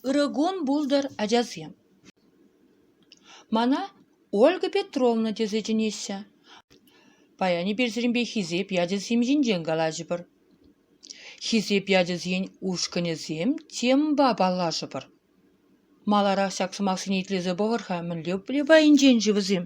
Ырӑ кун пултӑр, ачасем. Мана Ольга Петровна тесе чӗнеҫҫӗ. Паян эпирсемпе хисеп ячӗсем ҫинчен калаҫӑпӑр. Хисеп ячӗсен ушкӑнӗсем темӑпа паллашӑпӑр. Маларах ҫак сӑмахсене итлесе пӑхӑр-ха, мӗнле пай пайӗнчен-ши вӗсем?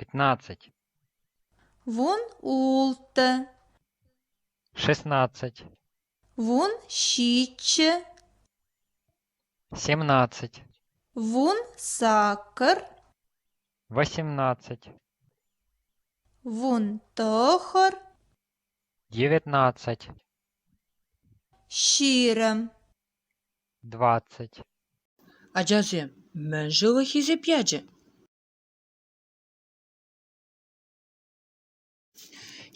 пятнадцать вун ултӑ шестнадцать вун ҫиччӗ семнадцать вун сакӑр восемнадцать вун тӑхӑр девятнадцать ҫирӗм Двадцать. Ачасем, мӗн ҫылӑ хисеп ячӗ?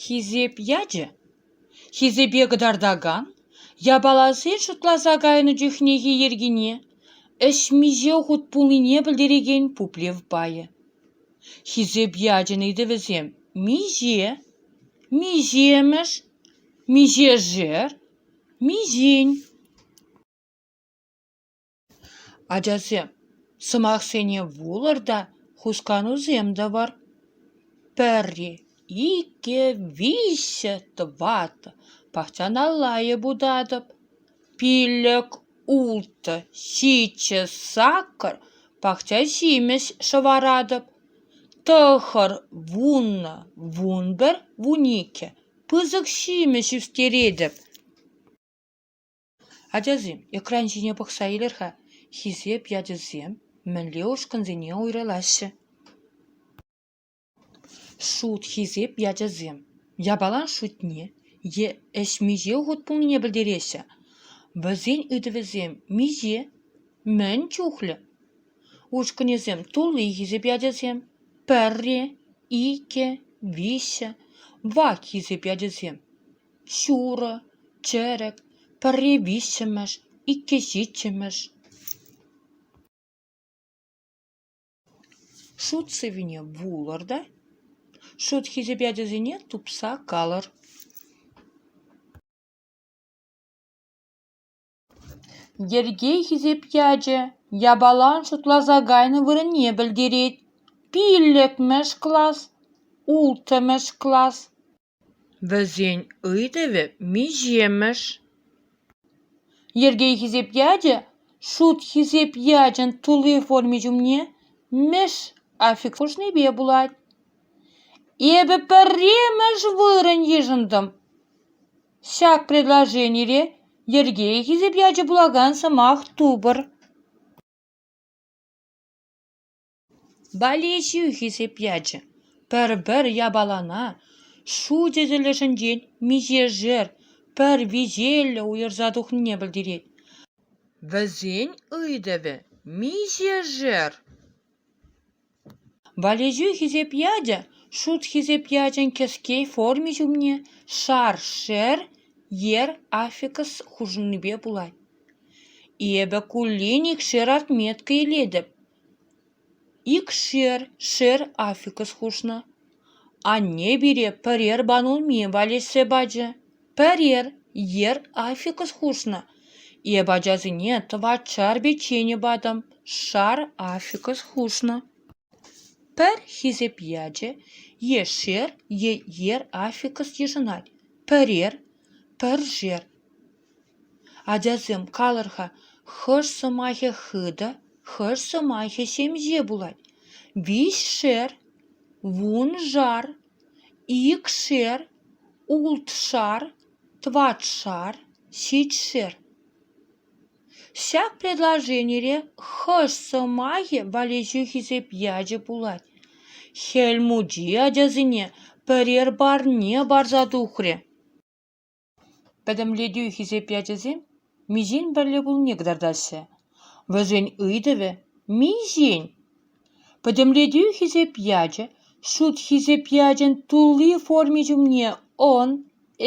Хисеп ячӗ? Хисепе кӑтартакан япаласен шутласа кайнӑ чухнехи йӗркине, ӗҫ миҫе хут пулнине пӗлтерекен пуплев пайӗ. Хисеп ячӗн ыйтӑвӗсем миҫе, миҫемӗш, миҫешер Миҫин? Ачасем, сӑмахсене вулӑр та хусканусем тӑвӑр. Пӗри, иккӗ, виҫҫӗ, тӑваттӑ пахчаналла йӑпутатӑп. Пиллӗк, ултӑ, ҫиччӗ сакӑр пахча ҫимӗҫ шӑваратӑп. Тӑхӑр вуннӑ, вун пӗр, вун иккӗ. пысӑк ҫимӗҫ ӳстеретӗп. Ачасем, экран ҫине пӑхса илер-ха, хисеп ячӗсем мӗнле ушкӑнсене уйрӑлаҫҫӗ? Шут хисеп ячӗсем япалан шутне е ӗҫ миҫе хут пулнине пӗлтереҫҫӗ. Вӗсен ыйтӑвӗсем миҫе, мӗн чухлӗ? Ушкӑнӗсем тулли хисепе ачасем: пӗрре, иккӗ, виҫҫӗ, вак хисеп ачасем. Ҫурӑ, чӗрӗк, пӗрре виҫҫӗмӗш, иккӗ ҫиччӗмӗш. Шут сӗвине вулӑр та шут хисепе ачасене тупса калӑр. Йӗрке хисеп ячӗ япалан шутласа кайнӑ вырӑнне пӗлтерет: пиллӗкмӗш класс, улттӑмӗш класс. Вӗсен ыйтӑвӗ миҫемӗш? Йӗрке хисеп ячӗ шут хисеп ячӗн тулли форми ҫумне мӗш аффикс хушнипе пулать. Эпӗ пӗрремӗш вырӑн йышӑнтӑм. Ҫак предложенире йӗрке хисеп ячӗ пулакан сӑмах тупӑр. Болеҫӳ хисеп ячӗ пӗр-пӗр япалана шу тӗсӗлӗшӗнчен миҫешер пӗр виҫеллӗ уйӑрса тухнине пӗлтерет. Вӗсен ыйтӑвӗ миҫешер? Валеҫӳ хисеп ячӗ шут хисеп ячӗн кӗске форми ҫумне шаршер ер аффикс хушӑннипе пулать. Эпӗ куллен икшер отметка илетӗп. Икшер шер аффикс хушнӑ. Анне пире пӗрер банулми валеҫсе пачӗ. Пӗрер йӗр аффикс хушнӑ. Эп ачасене тӑватшар печенье патӑм, шар аффикс хушнӑ. Пӗр хисеп ячӗ е шер е йӗр аффикс йышӑнать. Пӗрер, пӗршер. Ачасем калӑр-ха, хӑш сӑмахӗ хытӑ, хӑш сӑмахӗ ҫемҫе пулать? Виҫшер, вуншар. Икшер, ултшар, тӑватшар, ҫичшер. Ҫак предложенире хӑш сӑмахӗ валеҫӳ хисеп ячӗ пулать? Хӗл Мучи ачасене пӗрер парне парса тухрӗ. Пӗтӗмлетӳ хисеп ячӗсем миҫен пӗрле пулнине кӑтартаҫҫӗ. Вӗсен ыйтӑвӗ – миҫен? Пӗтӗмлетӳ хисеп ячӗ шут хисеп ячӗн тулли форми ҫумне «ӑн»,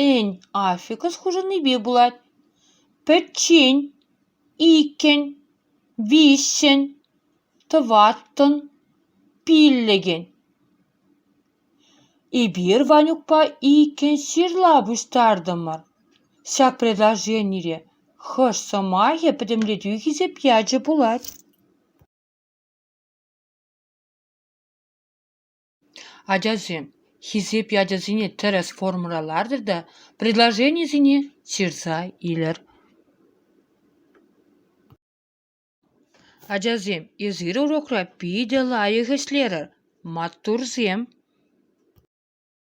«ӗн» аффикс хушӑннипе пулать. Пӗччен – иккӗн, виҫҫӗн, тӑваттӑн, пиллӗкӗн. Эпир Ванюкпа иккӗн ҫырла пуҫтартӑмӑр. Ҫак предложенире хӑш сӑмахӗ пӗтӗмлетӳ хисеп ячӗ пулать? Ачасем, хисеп ячӗсене тӗрӗс формӑра лартӑр та предложенисене ҫырса илӗр. Ачасем, эсир урокра питӗ лайӑх ӗҫлерӗр, маттурсем.